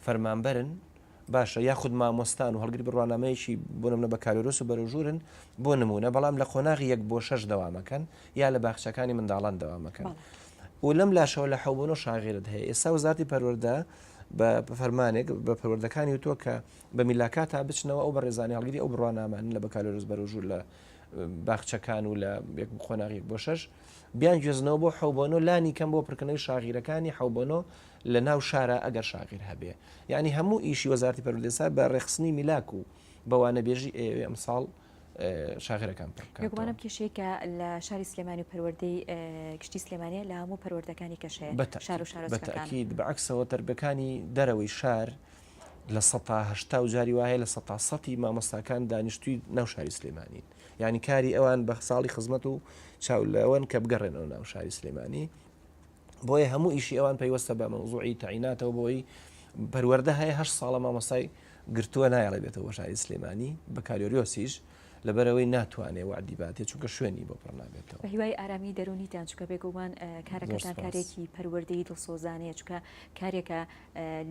فەرمانبەرن باشە یاخود مامۆستان و هەڵگر بڕوانامەیەکی بۆ نمونە بە کالۆرۆس و بەرەوژورن بۆ نمونە بەڵام لە قۆناغی یەک بۆ شەش دەوامەکەن یا لە باخچەکانی منداڵان دەوامەکەن و لەم لاشەوە لە حەوبنۆ شاغێرت هەیە ئێستا وزارتی پەروەردە بە فەرمانێک بە پەروەردەکانی وتووە کە بە میلاکاتا بچنەوە ئەو بە ڕێزانانی هەڵگری ئەو بڕوانامانن لە بەکالۆرۆس بەرەوژور لە باخچەکان و لە یەک قۆناغ یەک بۆ شەش بیان گوێزنەوە بۆ حەوبۆنۆ لانی کەم بۆ پرکردنەوەی شاغیرەکانی حەوبۆنۆ لە ناو شارە ئەگەر شاغیر هەبێ یعنی هەموو ئیشی وەزارتی پەرودێسا بە ڕێخستنی میلاک و بەوانە بێژی ئێوێ ئەم ساڵ شاغرەکان پڕکانم کێشێکە لە شاری سلێمانی و پەروەردەی گشتی سلێمانە لە هەموو پەروەردەکانی کەشەیە بە شار و شارەکان بەعکسەوە تەربەکانی دەرەوەی شار. لە سەتا هەشتا و جاری وا هەیە لە سەتا سەتی مامۆستاکان دانیشتووی ناو شاری سلێمانین یانی کاری ئەوان بە ساڵی خزمەت و چاو لەوەن کە بگەڕێنەوە ناو شاری سلێمانی بۆیە هەموو ئیشی ئەوان پەیوەستە بە مەوزوعی تەعیناتەوە بۆی پەروەەردە هەیە هەر ساڵە مامۆستای گرتووە نایڵێ بێتەوە بە شاری سلێمانی بە کاریۆریۆسیش لەبەرەوەی ناتوانێ وعدی باتێ چونکە شوێنی بۆ پڕ نابێتەوە هیوای ئارامی دەرونیتان چکە بێگومان کارەکەتان کارێکی پەروەردەی دڵسۆزانەیە چکە کارێکە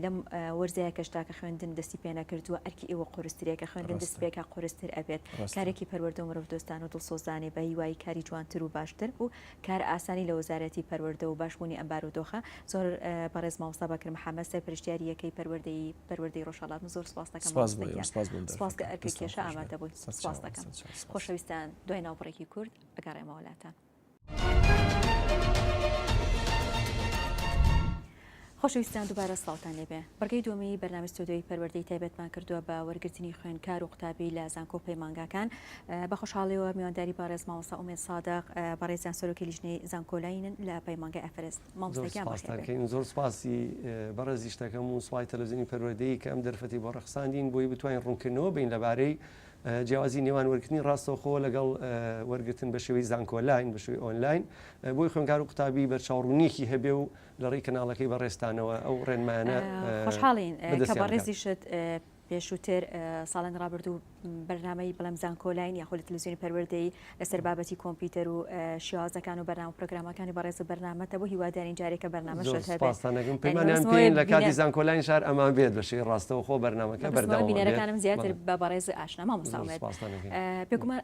لەم وەرزەیە کەش تاکە خوێندن دەستی پێنەکردووە ئەرکی ئێوە قورسترە کە خوێندن دەست پێکا قورستر ئەبێت کارێکی پەروەردە و مرۆڤ دۆستان و دڵسۆزانەی بە هیوای کاری جوانتر و باشتر و کار ئاسانی لە وەزارەتی پەروەردە و باشبوونی ئەم بارودۆخە زۆر بەڕێز مامۆستا بەکر محەمەد سەرپەرشتیاری یەکەی پەروەردەی پەروەردەی ڕۆژهەڵات زۆر سپاس دەکەم سپاس بۆ ئێوەش سپاس بۆم سپاس کە ئەرکی کێشە ئامادە بوویت سپاس دەکەم خۆشەویستان دوای ناوبڕێکی کورت ئەگەڕێمەوە لاتان خۆشەویستان دووبارە سڵاوتان لێبێ بڕگەی دومی بەرنامی ستۆدیۆی پەروەردەی تایبەتمان کردووە بە وەرگرتنی خوێنکار و قوتابی لە زانکۆ پەیمانگاکان بە خۆشحاڵیەوە میوانداری بەڕێز مامۆسا ئومێد سادق بەڕێزیان سەرۆکی لیژنەی زانکۆلاینن لە پەیمانگای ئەفرست مامۆستاکەین زۆر سپاسی بەڕێزیشتەکەم و سوپای تەلەزیینی پەروەردەی کە ئەم دەرفەتی بۆ ڕخساندین بۆی بتوانین ڕوونکردنەوە بین لەبارەی جیاوازی نێوان وەرگرتنی ڕاستەوخۆ لەگەڵ وەرگرتن بە شێوەی زانکۆلاین، بە شێوەی ئۆنلاین، بۆی خوێندکار و قوتابی بەرچاوڕوونییەکی هەبێ و لە ڕێی کەناڵەکەی بەڕێزتانەوە ئەو ڕێنمایانە بەدەستیان بگات. خۆشحاڵین کە بەڕێزیشت پێشووتر، ساڵانی ڕابردوو، بەرنامەی بڵێم زانکۆلاین یاخود لە تەلەویزیۆنی پەروەردەی لەسەر بابەتی کۆمپیوتەر و شێوازەکان و بەرنامە پرۆگرامەکانی بەڕێز و بەرنامەتە بۆ هیوادارین جارێ کە بەرنامە زۆر سوپاستان دەکەم پەیمانیان پێین لە کاتی زانکۆلاین شار ئەمان بێت بە شێوەی ڕاستەوە خۆ بەرنامەکە بەردەوام بێت بینەرەکانم زیاتر بە بەڕێز ئاشنا مامۆستا ئومێد بێگومان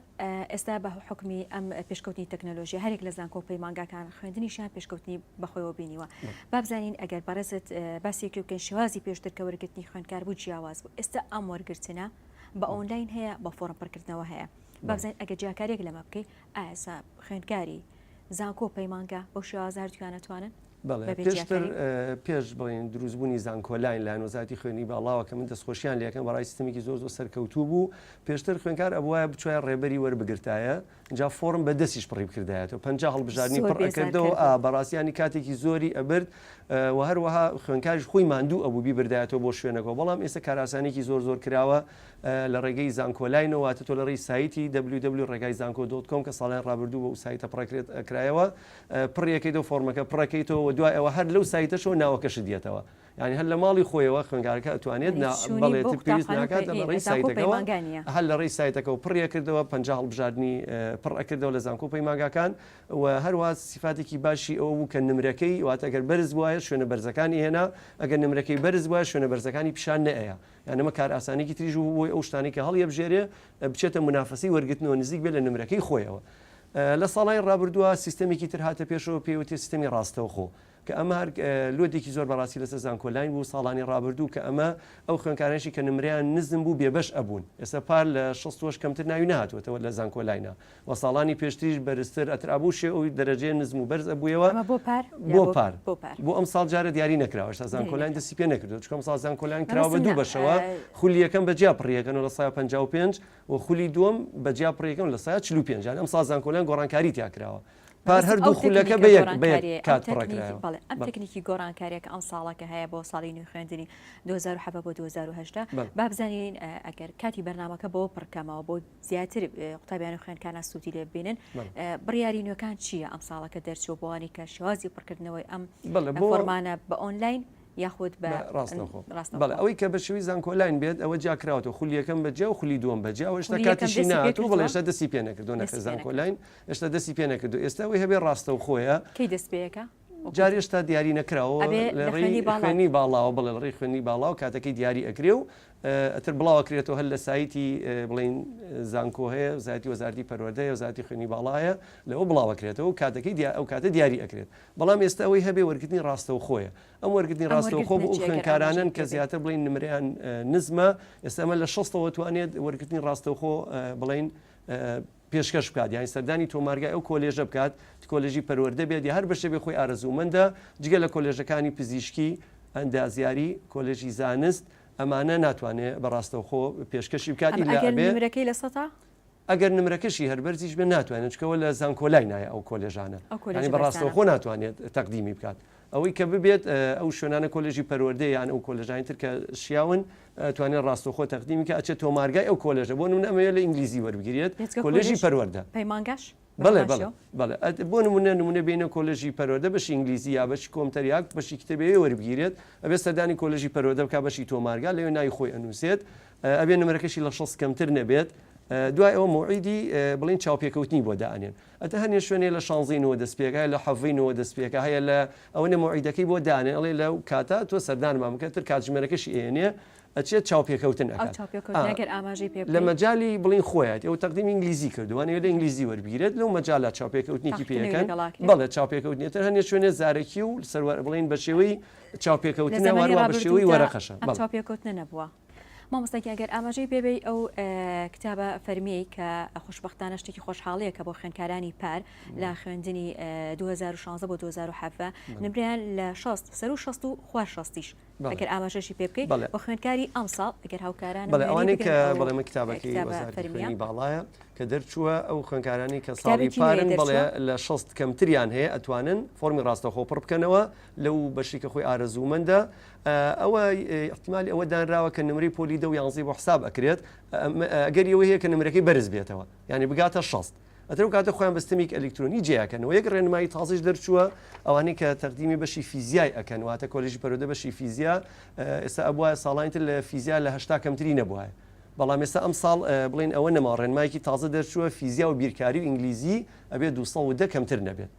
ئێستا بە حکومی ئەم پێشکەوتنی تەکنەلۆژیا هەرێک لە زانکۆ و پەیمانگاکان خوێندنیشیان پێشکەوتنی بەخۆیەوە بینیوە بابزانین ئەگەر بەڕێزت باسێکی بکەین شێوازی پێشتر کە وەرگرتنی خوێندکار بوو جیاواز بوو ئێستا ئەم وەرگرتنە بە ئۆنلاین هەیە بە فۆڕم پڕکردنەوە هەیە با بزانین ئەگەر جیاکاریەک لەمە بکەی ئاسا خوێندکاری زانکۆ پەیمانگە بەو شێوازە هەردووکیان ناتوانن بەڵێ بەبێ پێشتر جیاکاری اه، پێش بڵین دروستبوونی زانکۆلاین لایەن وەزارەتی خوێندنی باڵاوە کە من دەستخۆشیان لێکەم بەڕای سیستمێکی زۆر زۆر سەرکەوتوو بوو پێشتر خوێنکار ئەبوایە بچوایە ڕێبەری وەربگرتایە جا فۆرم بە دەستیش پڕی بکردایەتەوە پەنجا هەڵبژاردنی زۆر پڕ بێزار ئەکردەوە کردوون. ئا بەڕاستیانی کاتێکی زۆری ئەبرد اه، و هەروەها خوێنکاریش خۆی ماندوو ئەبوو بیبردایەتەوە بۆ شوێنەکەوە بەڵام ئێستا کارئاسانیەکی زۆر زۆر کراوە لە ڕێگەی زانکۆلاینەوە واتە تۆ لە ڕێی سایتی ww ڕێگای زانکۆ دۆت کۆم کە ساڵانی ڕابردوو بۆ ئەو سایتە پڕەکرێت کرایەوە پڕی ئەکەیت و فۆڕمەکە پڕەکەیتەوە وە دوای ئەوە هەر لەو سایتەشەوە ناوەکەشت یەتەوە یانی هەر لە ماڵی خۆیەوە خوێندگارەکە ئەتوانێت نا بەڵێ تر پێویست ناکات لە ڕێی سایتەکەوە هەر لە ڕێی سایتەکەەوە پڕی ئەکردەوە پەنجا هەڵبژاردنی پڕ ئەکردەوە لە زانکۆ پەیمانگاکان و هەروە سیفاتێکی باشی ئەوە بوو کە نمرەکەی واتە گەر بەرز بوایە شوێنە بەرزەکانی هێنا ئەگەر نمرەکەی بەرز بوایە شوێنە بەرزەکانی پیشان نەیەیا یان ئەمە کارئاسانیەکی تریش بوو بۆی ئەو شتانەی کە هەڵیەبژێرێ بچێتە مونافەسەی وەرگرتنەوە نزیک بێ لە نمرەکەی خۆیەوە. لە ساڵانی ڕابردووە سیستەمێکی تر هاتە پێشەوە پێی وترێ سیستەمی ڕاستەوخۆ کە ئەمە هەر لۆدێکی زۆر بەڕاستی لەسەر زانکۆلاین بوو ساڵانی ڕابردوو کە ئەمە ئەو خوێندکارانێکی کە نمرەیان نزم بوو بێبەش ئەبوون ئێستا پار لە شەست و هەشت کەمتر ناوی نەهاتووەتەوە لە زانکۆلاینە وە ساڵانی پێشتریش بەرزتر ئەتر ئەبوو شێ ئەوی دەرەجەی نزم و بەرز ئەبوویەوە ئەمە بۆ پار بۆ یان پار بۆ پار بۆ ئەمساڵ جارێ دیاری نەکراوە هێشتا دیاری زانکۆلاین نەکراوە. دەستی پێ نەکردووە چونکە ئەمساڵ زانکۆلاین مەبەستم کراوە بە دوو نا، بەشەوە ئە، خولی یەکەم بە جیا پڕی یەکەن و لە سەدا پەنجا و پێنج و خولی دووەم بە جیا پڕی یەکەن و لە سەدا چل و پێنج یانی ئەمساڵ زانکۆلاین گۆڕانکاری تیا کراوە پار مەبەستم ئەو هەردوو خولەکە تەکنیکە بە یەک بە یەک گۆڕانکاریەی ئەم کات پڕە تەکنیک کرایەوە بەڵێ ئەم بەڵێ تەکنیکی گۆڕانکاریە کە ئەمساڵە کە هەیە بۆ ساڵی نوێی خوێندنی دوو هەزار و حەڤە بۆ دوو هەزار و هەژدە بەڵێ با بزانین ئە، ئەگەر کاتی بەرنامەکە بەوە پڕ کەمەوە بۆ زیاتر قوتابیانی خوێنکاران سوودی لێ ببینن بڕیاری نوێکان چییە ئەم ساڵەکە دەرچوە بۆوانی کە شێوازی پڕکردنەوەی ئەم بۆڕمانە بە ئۆنلاین یاخود بە ڕاستە بەڵێ ئەوەی کە بە شوی زانکۆلاین بێت ئەوە جیاکراوەوە خولی یەکەم بە جیا و خولی دووەم بە جیا ئێشتا کاتیشی نات و بڵێشتا دەستی پێ نەکردو نەخە زانکۆلاین ئێشتا دەستی پێ نەکردو ئێستا ئەوی هەبێ ڕاستە و خۆیە کەی دەست پێەکە جار هێشتا دیاری نەکراوە لە ڕێی خوێنی باڵاوە بڵێ لە ڕێی خوێنی باڵاوە کاتەکەی دیاری ئەکرێ و ئەتر بڵاوە کرێتەوە هەر لە سایتی بڵین زانکۆ هەیە زیاتی وەزارتی پەروەەردە هەیە زیاتی خوێنی باڵایە لەوە بڵاوە کرێتەوە و کاتەکەی دیا ئەو کاتە دیاری ئەکرێت بەڵام ئێستا ئەوەی هەبێ وەرگتنی ڕاستەوە خۆیە ئەم وەرگتنی ڕاستەوە خۆ ئەو خوێنکارانن کە زیاتر بڵین نمریان نزمە ئێستامە لە شەستەوە توانێت وەرگتنی ڕاستەوخۆ بڵین پێشکەش بکات یاین سەردانی تۆمارگای ئەو کۆلێژە بکات کۆلێژی پەروەردە بێت یا هەر بەشێ بێ خۆی ئارەزوومەندە جگە لە کۆلێژەکانی پزیشکی ئەندازیاری کۆلێژی زانست ئەمانە ناتوانێت بەڕاستەوخۆ پێشکەشی بکات نمرەکەی لە سەتا ئەگەر نمرەکەشی هەربەرزیش بە ناتوانێت چکەوە لە زانکۆلای نایە ئەو کۆلێژانە بەڕاستەوخۆ ناتوانێت تەقدیمی بکات ئەوەی کە ببێت ئەو شوێنانە کۆلێژی پەروەردەیە یان ئەو کۆلێژانەی تر کە شیاون ئەتوانێت ڕاستەوخۆ تەقدیمی کە ئەچێت تۆمارگای ئەو کۆلێژە بۆ نمونە ئەمەوێت لە ئینگلیزی وەربگیرێت بێجگە کۆلێژی کۆلێژ پەروەردە پەیمانگاش بە بەڵێ بەڵێ باشیەوە بەڵێ ئەت بۆ نمونە نمونە بینە کۆلێژی پەروەردە بەشی ئینگلیزی یا بەشی کۆمتەر یا بەشی کتێبی وەربگیرێت ئەبێت سەردانی کۆلێژی پەروەردە بکات بەشی تۆمارگا لەوێ ناوی خۆی ئەنووسێت ئە ئەبێ نمرەکەشی لە شەست کەمتر نەبێت ئە دوای ئەوە موعیدی ئە بڵێن چاوپێکەوتنی بۆ دائەنێن ئەتە هەنێ شوێنێ لە شانزەی نۆوە دەست پێکا لە حەڤەی نۆوە دەست پێکا هەیە لە ئەوەنە مەوعیدەکەی بۆ دانێ ئەڵێ لەو کاتە تۆ سەردانمان بکە تر کاتژمێرەکەشی ئێنێ ئەچێت چاوپێکەوتن ئەو ئەکات چاوپێکەوتنە ئا گەر ئاماژەی پێ لە بکەین مەجالی بڵێین خۆیەتی ئەو تەقدیمی ئینگلیزی کردووە ئەوێ لە ئینگلیزی وەربگیرێت لەو مەجالا چاوپێکەوتنێکی پێ تاقیتنەوی یەکەن لەگەڵا کرێ بەڵێ چاوپێکەوتنی تر هەنێ شوێنێ زارەکی و سەروەر بڵێن بە شێوەی لە چاوپێکەوتنە زەمەنی وەروا بە شێوەی ڕابردوودا وەرەقەشە ئەم بەڵێ. چاوپێکەوتنە نەبووە مامۆستا گیان گەر ئاماژەی پێ بەی ئەو کتابە فەرمیەی کە خوشبختانە شتێکی خۆشحاڵەیە کە بۆ خوێندکارانی پار لە خوێندنی 2016 بۆ 2017 نمریان لە 16 سەر و 16 و خوار 16ش ئەگەر ئاماژەشی پێ بکەیت بە خوێندکاری ئەم ساڵ ئەگەر هاوکاران بەڵێوانەی کە بەڵێمە کتابەکەی فەرمیانی باڵایە کە دەرچووە ئەو خوێندکارانی کە ساڵی پارن بڵێ لە 16 کەمتریان هەیە ئەتوانن فۆمی ڕاستەخۆ پڕ بکەنەوە لەو بەشی کە خۆی ئارەزوومەندە ئەوە ئیحتیمالی ئەوە دانراوە کە نمرەی پۆلی دە و یانزەی بۆ حساب ئەکرێت ئەگەری ئەوە هەیە کە نمرەکەی بەرز بێتەوە یعنی بگاتە شەست ئەترو کاتە خۆیان بەستەمێک ئەلکترۆنی جیاکەنەوە یەک ڕێنمایی تازیش دەرچووە ئەوانەی کە تەقدیمی بەشی فیزیای ئەکەن واتە کۆلیژی پەرۆدە بەشی فیزیا ئێستا ئەبواە ساڵانی تر لە فیزیا لە هشتا کەمتری نەبواە بەڵام ئێستا ئەم ساڵ بڵین ئەوە نەما ڕێنمایکی تازە دەرچووە فیزیا و بیرکاری و ئینگلیزی ئەبێ 210 کەمتر نەبێت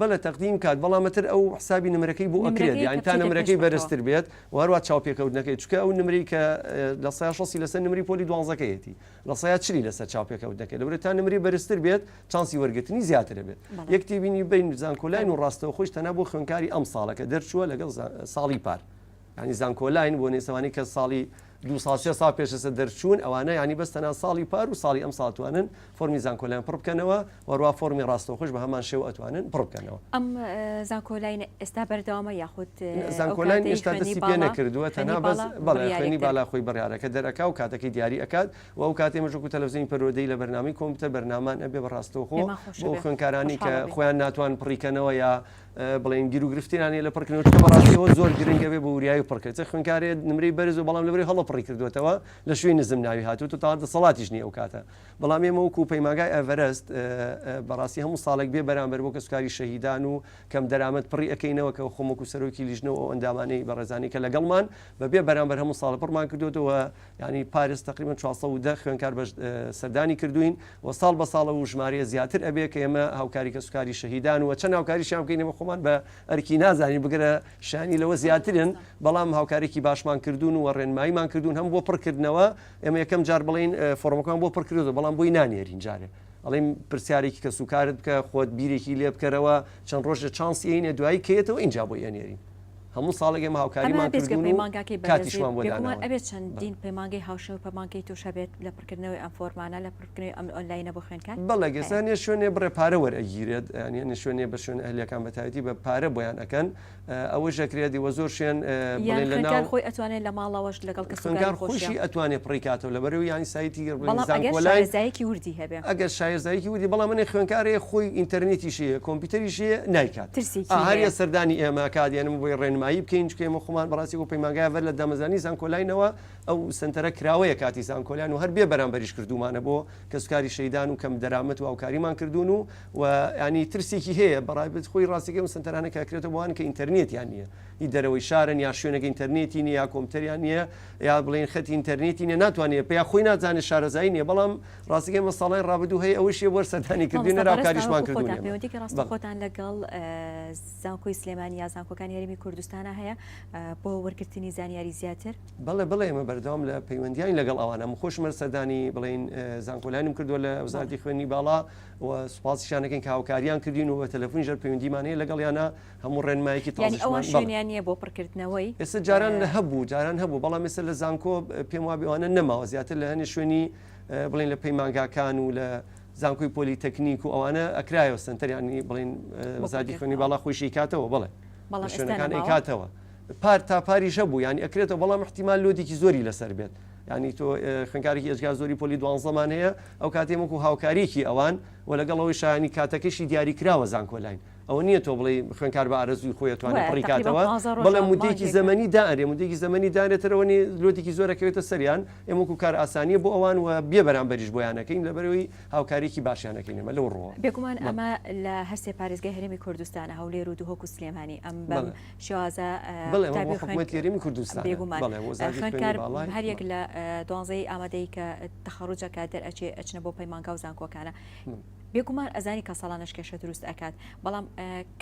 بەڵێ تەقدیم کات بەڵام ئەتر ئەو حسابی نمرەکەی بۆ ئەکرێت یانی تا نمرەکەی بەرزتر بێت و هەروە چاوپێکەوتنەکەی چکە ئەو نمری کە لە سای شەسی لەسەر نمری پۆلی دوانزەکەیەتی لە سای چلی لەسەر چاوپێکەوتنەکە لەورە تا نمری بەرزتر بێت چانسی وەرگرتنی زیاتر بێت یەکتی بینی بین زانکۆلاین و ڕاستەوە خۆش تەنە بۆ خوێنکاری ئەم ساڵەکە دەرچووە لەگەڵ ساڵی پار. یانی زانکۆلاین بۆ نێسەوانی کە ساڵی دوو ساڵ سێ ساڵ پێشەسە دەرچوون ئەوانە یانی بەس تەنها ساڵی پار و ساڵی ئەم ساڵ توانن فۆرمی زانکۆلاین پڕ بکەنەوە وەروا فۆرمی ڕاستەوخۆش بە هەمان شێوە ئەتوانن پڕ بکەنەوە. ئەم زانکۆلاین ئێستا بەردەوامە یاخود زانکۆلاین ئێستا دەستی پێ نەکردووە تەنها بەس بەڵێ خوێندنی بالا خۆی بڕیارەکە دەرئەکا و کاتەکەی دیاری ئەکات و ئەو کاتەی ئێمەش وەکوو تەلەفزیۆنی پەروەردەیی لە بەرنامەی کۆمپیوتەر بەرنامەمان ئەبێ بە ڕاستەوخۆ بۆ خوێندکارانی کە خۆیان ناتوان پڕی کەنەوە یا بڵێن گیروگرفتیان هەیە لە پڕکردنەوە، چونکە بەڕاستی ئەوە زۆر گرنگە بێ بۆ وریایی پڕکرد، چ خوێندکارێ نمرەی بەرز و بەڵام لەبەرئەوەی هەڵە پڕی کردووەتەوە لە شوێی نزم ناوی هاتووت و تاڵ دەسەڵاتیش نییە ئەو کاتە، بەڵام ئێمە وەکوو پەیمانگای ئێڤەرەست بەڕاستی هەموو ساڵێک بێ بەرامبەر بۆ کەسوکاری شەهیدان و کەم دەرامەت پڕی ئەکەینەوە کە خۆم وەکوو سەرۆکی لیژنە و ئەو ئەندامانەی بەڕێزانەی کە لەگەڵمان بە بێ بەرامبەر هەموو ساڵ پڕمان کردووەتەوە. یانی پاریس تەقریبەن چوار سەد و دە خوێندکار بەش سەردانی کردووین و ساڵ بە ساڵە و ژمارەیە زیاتر ئەبێ کە ئێمە هاوکاری کەسوکاری شەهیدان و چەند هاوکاریشیان بکەین ئێمە خۆمان بە ئەرکی نازانین بگرە شانی لەوە زیاترن بەڵام هاوکارێکی باشمان کردوون و ڕێنماییمان کردوون هەم بۆ پڕکردنەوە ئێمە یەکەم جار بڵین فۆرمەکان بۆ پڕکردو بەڵام بۆی نانێرین جارێ ئەڵیم پرسیارێکی کەسوکارت بکە خۆت بیرێکی لێ بکەرەوە چەند ڕۆژە چانسیینە دوایی کێتەوە اینجا بۆ ئەنێرین هەموو ساڵێک ئێمە هاوکاریمان کردوون و کاتیشمان بۆ داناون. ئەمە بێجگە پەیمانگاکەی بەرزی، بێگومان ئەبێت چەندین پەیمانگەی هاوشێوە و پەیمانگەی توش هەبێت لە پڕکردنەوەی ئەم فۆرمانە، لە پڕکردنەوەی ئەم ئۆنلاینە بۆ خوێندکار. بەڵێ گەر هەنێ شوێنێ بڕێ پارە وەرئەگیرێت، یانی هەنێ شوێنێ بە شوێنە ئەهلیەکان بە تایبەتی بە پارە بۆیان ئەکەن، ئەوەش ئەکرێت دیوە زۆر شوێن بڵێن لە ناو. یان خوێندکار خۆی ئەتوانێت لە ماڵەوەش لەگەڵ کەسوکاری خۆشیا. خوێندکار خۆشی ئەتوانێت پڕی کاتەوە لە بەرو یانی سایتی گەر بڵێن زانکۆلاین. بەڵام ئەگەر شارەزایەکی وردی هەبێت. ئەگەر شارەزایەکی وردی بەڵام هەنێ خوێندکار هەیە خۆی ئینتەرنێتیشی هەیە کۆمپیوتەریشی هەیە نایکات. ترسێکی هەیە. ئاهاریە سەردانی ئێمە ئەکات یان ئێمە بۆی ڕێنمایی بکەین چونکە ئێمە خۆمان بەڕاستی بۆ پەیمانگایە ڤەر لە دامەزرانی زانکۆلاینەوە ئەو سەنتەرە کراوەیە کاتی زانکۆلاین و هەر بێ بەرامبەریش کردوومانە بۆ کەسوکاری شەیدان و کەم دەرامەت و هاوکاریمان کردوون و و یانی ترسێکی هەیە بەڕای خۆی ڕاستەکەی ئەو سەنتەرانە کە ئەکرێتە بۆ ئەوان کە ئینتەرنێتیان نییە هی دەرەوەی شارن یا شوێنێک ئینتەرنێتی نییە یا کۆمپیوتەریان نییە یا بڵێن خەتی ئینتەرنێتی نیە ناتوانێت پێ یا خۆی نازانێت شارەزایی نیە بەڵام ڕاستەکەی مە ساڵای ڕابدو هەیە ئەوەش یە بەر سەردانی کردی نەرا کاریشمان کردوە پەیوەندێکی ڕاستە خۆتان لەگەڵ زانکۆی سلێمانی یا زانکۆکان هەرمی کوردستانە هەیە بۆ وەرگرتنی زانیاری زیاتر بەڵێ بڵێ ئمە بەردەوام لە پەیوەندیان لەگەڵ ئەوانە خۆشمەر سەردانی بڵین زانکۆلانم کردووە لە وزارتی خوێنی باڵا و سوپاس شانەکەین کاوکاریان کردین و بە تەلەفۆنی ژەر پەیوەندیمانەیە لەگەڵ یانە هەموو ڕێنمایەکی تازیان نیە بۆ پڕکردنەوەی ئێستا جاران هەبوو جاران هەبوو بەڵام ێستا لە زانکۆ پێم وابیوانە نەماوە زیاتر لە هەنێ شوێنی بڵێن لە پەیمانگاکان و لە زانکۆی پۆلی تەکنیک و ئەوانە ئەکرایەوە سنتەر ینی بڵین زادی خوێنی باڵا خۆشی کاتەوە بڵێ شوێنەکان ئەیکاتەوە پار تا پاری ژە بوو ینی ئەکرێتەوە بەڵام احتیمال لۆدیکی زۆری لەسەر بێت ینی تۆ خوێنکارێکی ئێجگار زۆری پۆلی دوانزەمان هەیە ئەو کاتێمەکو هاوکاریکی ئەوان و لەگەڵەوەی شایانی کاتەکەشی دیاری کراوە زانکۆلاین ئەوە نییە تۆ بڵێی خوێنکار بە ئارەزووی خۆی ئەتوانێ بڕی کاتەوە بەڵێ مودێکی زەمەنی دائەرێ مودێکی زەمەنی دانێ تەرەوەنی لۆتێکی زۆر ئەکەوێتە سەریان ئێمە وەکو کار ئاسانیە بۆ ئەوان و بێ بەرامبەریش بۆیانەکەین لەبەرەوەی هاوکاریکی باشیانەکەین ئێمە لەو ڕووە بێگومان ئەمە لە هەرسێ پارێزگای هەرێمی کوردستانە هەولێر و دهۆک و سلێمانی ئەم بەم شێوازە تێرمی کوردستان بێگومان خوێنکار هەریەک لە دوانزەی ئامادەی کە تەخەڕوجەکە دەرئەچێ ئەچنە بۆ پەیمانگا و زانکۆکانە بێگومان ئەزانی کە ساڵانەش کێشە دروست ئەکات بەڵام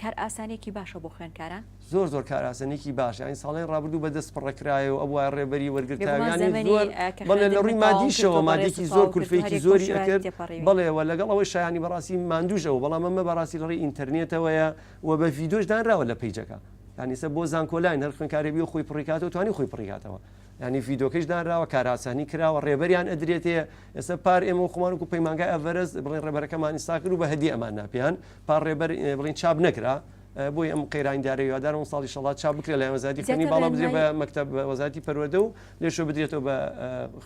کار ئاسانێکی باشە بۆ خوێنکاران زۆر زۆر کاراسەنێکی باش ئەین ساڵی ڕابردوو بە دەست پڕەکرایە و ئەوە ڕێبەری وەرگرتیانی زۆر بەڵێ لە ڕووی مادیشەوە مادێکی زۆر کولفێکی زۆری ئەکرد بڵێەوە لەگەڵ ئەوەی شایانی بەڕاستی مادوژەوە بەڵام ئەمە بەڕاستی لەڕی ئینتەرنێتەوەیە و بە ڤیدۆش دانراوە لە پیجەکە یانیسە بۆ زانکۆلاین هەر خوێنکارێبی و خۆی پڕیکاتەوە توانی خۆی پڕیکاتەوە یانی ڤیدۆکەیش دانراوە کاراسانی کراوە ڕێبەریان ئەدرێتێ ئێستا پار ئێمە خۆمان وکو پەیمانگای ئەڤەرست بڵێن ڕێبەرەکەمان ئیستا کرد و بە هەدیە ئەمان نا پێیان پار ڕێبەر بڵین چاپ نەکرا بۆی ئەم قەیرانی دارە هیوادارم ساڵی شەڵات چا بکرێت لە وەزاتی خوێنی باڵا بدرێ بە مەکتب وەزاتی پەروەردە و لێشۆ بدرێتەوە بە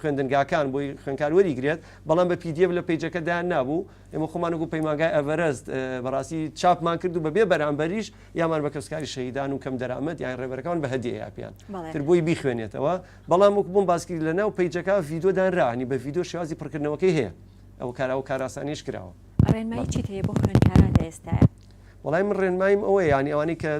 خوێندنگاکان بۆی خوێنکار وەریگرێت بەڵام بە پیدیە لە پیجەکە دایان نابوو ئێمە خۆمانگو پەیماگای ئەڤەرست بەڕاستی چاپمان کرد و بەبێ بەرامبەریش یامان بە کەسکاری شەهیدان و کەم دەرامەت یان ڕێبەرەکان بە هەدیە یاپیان تر بۆی بیخوێنێتەوە بەڵام وەک بووم باسکرد لە ناو پیجەکە یددیو دانرانی بە یددیو شێوازی پڕکردنەوەکەی هەیە ئەو کارا و کاراسانیش کراوە ڕێنمایی چیت هەیە بۆ خوێندکاران لە ئێستاە؟ وەڵای من ڕێنماییم ئەوە یانی ئەوانەی کە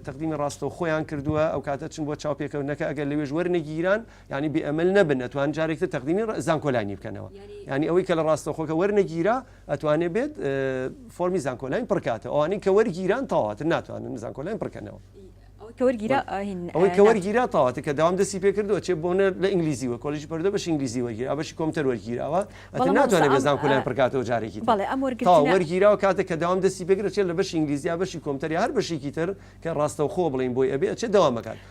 تەقدیمی ڕاستە و خۆیان کردووە ئەو کاتە چون بۆ چاوپێکەوتنەکە ئەگەر لەوێژ وەرنەگیران ینی بێئەمل نەبن نەتوان جارێکتە تەقدیمی زانکۆلانی بکەنەوە ینی ئەوەی کە لە ڕاستەخۆکە وەرنەگیرا ئەتوانێ بێت فۆرمی زانکۆلاین پڕکاتەوە ئەوانەی کە وەرگیران تەواتر ناتوانن زانکۆلاین پڕکەنەوە ئەوەی کە وەرگیرا تەواتە کە داوام دەستی پێ کردووە چێ بۆنە لە ئینگلیزی وە کۆلیژ پردە بەش ئینگلیزی وەرگیرا بەشی کۆمتەر وەرگیراوە ئەتە ناتوانێت بە زانکۆلاین پڕکاتەوە جارێکی وەرگیراوە کاتە کە داوام دەستی پێگرە چێت لە بەش ئینگلیزیا بەشی کۆمتەری هەر بەشێکی تر کە ڕاستەوخۆ بڵین بۆی ئەبێ چێ داوامەکان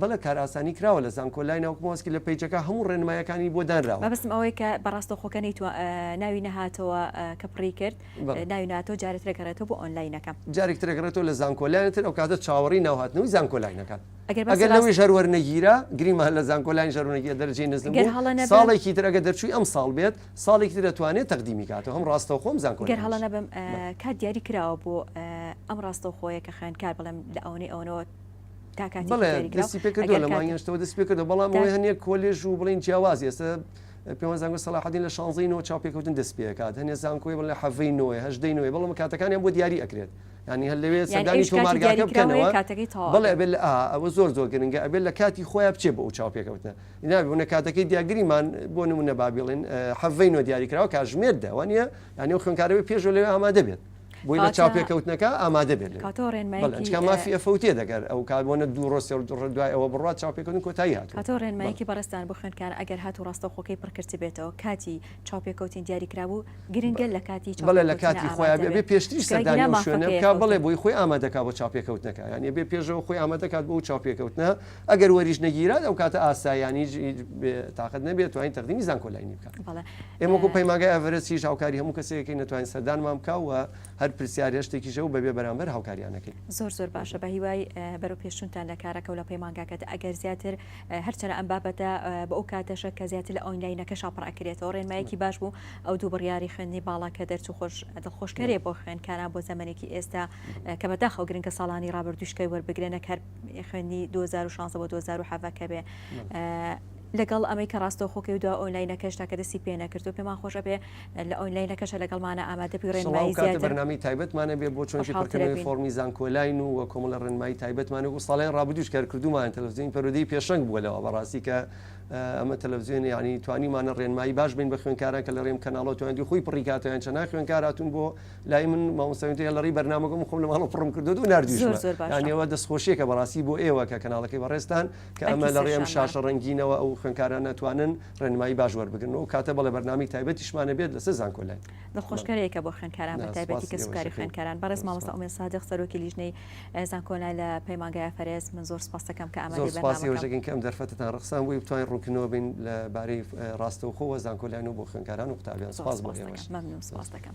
بەڵێ کارئاسانی کراوە لە زانکۆ لای ناوک مۆسکی لە پەیجەکە هەموو ڕێنمایەکانی بۆ دانراوە. مەبەستم ئەوەی کە بە ڕاستەوخۆکە نەیتوە ناوی نەهاتەوە کە پڕی کرد بەڵێ. ناوی نەهاتەوە جارێ ترە گەڕێتەوە بۆ ئۆنلاینەکە. جارێک ترە گەڕێتەوە لە زانکۆ لاین تر ئەوکاتە چاوەڕێی ناو هاتنەوەی زانکۆ لاین ئەکات ئەگەر باسی ئەگەر ڕاست. لەوێش هەر وەرنەگیرا گریمان لە زانکۆ لاین ژەر وەرنەگیرا دەرەجەی نزم گەر بوو هەڵە نەبم. ساڵێکی تر ئەگەر دەرچووی ئەمساڵ بێت ساڵێکی تر ئەتوانێت تەقدیمی کاتەوە هەم ڕاستەوخۆ هەم زانکۆ گەر هەڵە لاینیش. نەبم بەڵێ. کات دیاری کراوە بۆ ئەم ڕاستەوخۆیە کە خوێندکار بڵێم لە ئەوەنەی ئەوەنەوە بڵێ دەستی پێکردو لە مانگەشتەوە دەست پێکردو بەڵام ئەوەی هەنێ کۆلێژ و بڵین جیاواز ئێستا پێوان زانگو سەلاحدین لە شانزەی نۆ چاوپێکەوتن دەست پێکات هەنێ زانکۆی بڵێ حەڤەی نۆێ هەژدەی نوێ بەڵام کاتەکانیان بۆ دیاری ئەکرێت ینی هەر لەوێ سەردانی تۆمارگاکە بکەنەوە بڵێ بێت ئەوە زۆر زۆر گرنگە ئەبێت لە کاتی خۆیان بچێ بۆ ئەو چاوپێکەوتنە نابوونە کاتەکەی دیاگریمان بۆ نمونە بابیڵێن حەڤەی نۆ دیاریکراوە کاژمێر داوانە یانی و خوێنکارەوەی پێشۆ لەوێ ئامادە بێت بۆی لە چاوپێکەوتنەکە ئامادە بێت مافی ئەفوتێ دەگەر ئەو کاربوونە دوو ڕۆ سێ ڕۆ دوای ئەوە بڕوا چاوپێکردن کۆتایی هات هاتۆ ڕێنمایکی بەڕێستان بۆ خوێنکار ئەگەر هات و ڕاستەوخۆکەی پڕکرد بێتەوە کاتی چاوپێکەوتین دیاریکرابوو گرنگە لە کاتی بەڵێ لە کاتی خۆیان بێ پێشتری سەردانی شوێنەکە بڵێ بۆی خۆی ئامادەکە بۆ چاپێکەوتنەکە یان بێ پێشەوە خۆی ئامادەکات بۆ چاپێکەوتنە ئەگەر وەریش نەگیرات ئەو کاتە ئاسایانی تااقت نەبێت توانین تەقدیمی زانکۆلاینی بکات ئێمەکو پەیماگای ئەڤرسیش هاوکاری هەموو کەسێکی نەتوانین سەردانمان بکەوە هەر پرسیار هێشتێکیشە و بەبێ بەرامبەر هاوکاریانەکەی زۆر زۆر باشە بە هیوای بەرەو پێشتونتان لە کارەکە و لە پەیمانگاکەت ئەگەر زیاتر هەرچەنە ئەم بابەتە بە ئەو کاتەشە کە زیاتر لە ئۆینلاینەکە شاپڕکرێتەوە ڕێنمایەکی باش بوو ئەو دوو بڕیاری خوێندنی باڵا کە دەرچوو خۆش دڵخۆشکەرێ بۆ خوێنکاران بۆ زەمەێکی ئێستا کە بەداخەوە گرنگە ساڵانی ڕابردوشکەی وەربگرێنە کار خوێندنی دوو هەزار و شانزە بۆ دوو هەزار و حەڤە کە بێ لەگەڵ ئەمەی کە ڕاستەوخۆکەی و دو ئۆنلاینەکەش تاکە دەستی پێ نەکرد و پێمان خۆشە بێ لە ئۆنلاینەکەشە لەگەڵمانە ئامادە بی ڕێنمایی سڵاو کاتە زیاتر بەرنامەی تایبەتمانە بێ بۆ چۆنکی خۆشحاڵتر پڕکردنەوەی ئەبین. فۆڕمی زانکۆلاین و و کۆمەڵە ڕێنمایی تایبەتمانە بۆ ساڵانی ڕابردووش کار کردوومانە تەلەفزیۆنی پەروەردەی پێشەنگ بووە لەوە بەڕاستی کە اه، ئەمە تەلەفزیۆنە یانی توانیومانە ڕێنمایی باش بین بە خوێندکاران کە لە ڕێم کەناڵەوە توانیدی خۆی پڕی کاتەوە یان چەنای خوێندکار هاتوون بۆ لای من مامۆستا وینتەیە لەڕی بەرنامەکە من خۆم لە ماڵەوە پڕم کردووە و ناردووشمە زۆر باشە. یان ئێوە دەستخۆشییەکە بەڕاستی بۆ ئێوە کە کەناڵەکەی بەڕێزتان کە ئەمە ئەرکی لە ڕێی ئەم سەرشان بە. شاشە ڕەنگینەوە ئەو خوێندکاران ناتوانن ڕێنمایی باش وەربگرن و کاتە بەڵێ بەرنامەی تایبەتیشمان هەبێت لەسەر زانکۆلاین. دڵخۆشکەرێکە بۆ خوێندکاران بە نا، تایبەتی سوپاس کەسوکاری ئێوەشەکەی. خوێندکاران بەڕێز سوپاس. مامۆستا ئومێد سادق سەرۆکی لیژنەی ە، زانکۆلاین لە پەیمانگای ئەفەرێس من زۆر سوپاستەکەم کە زۆر ئامادەی سوپاس بەرنامەکەم. ئێوەشەکەین کە ئەم دەرفەتەتان ڕەخساند بۆی بتوانین ڕوونکردنەوە بین لە بارەی ڕاستەوخۆ و زانکۆلاین و بۆ خوێندکاران و قوتابیان. زۆر سوپاس بۆ سوپاستەکەم ئێوەش. مەمنون سوپاستەکەم.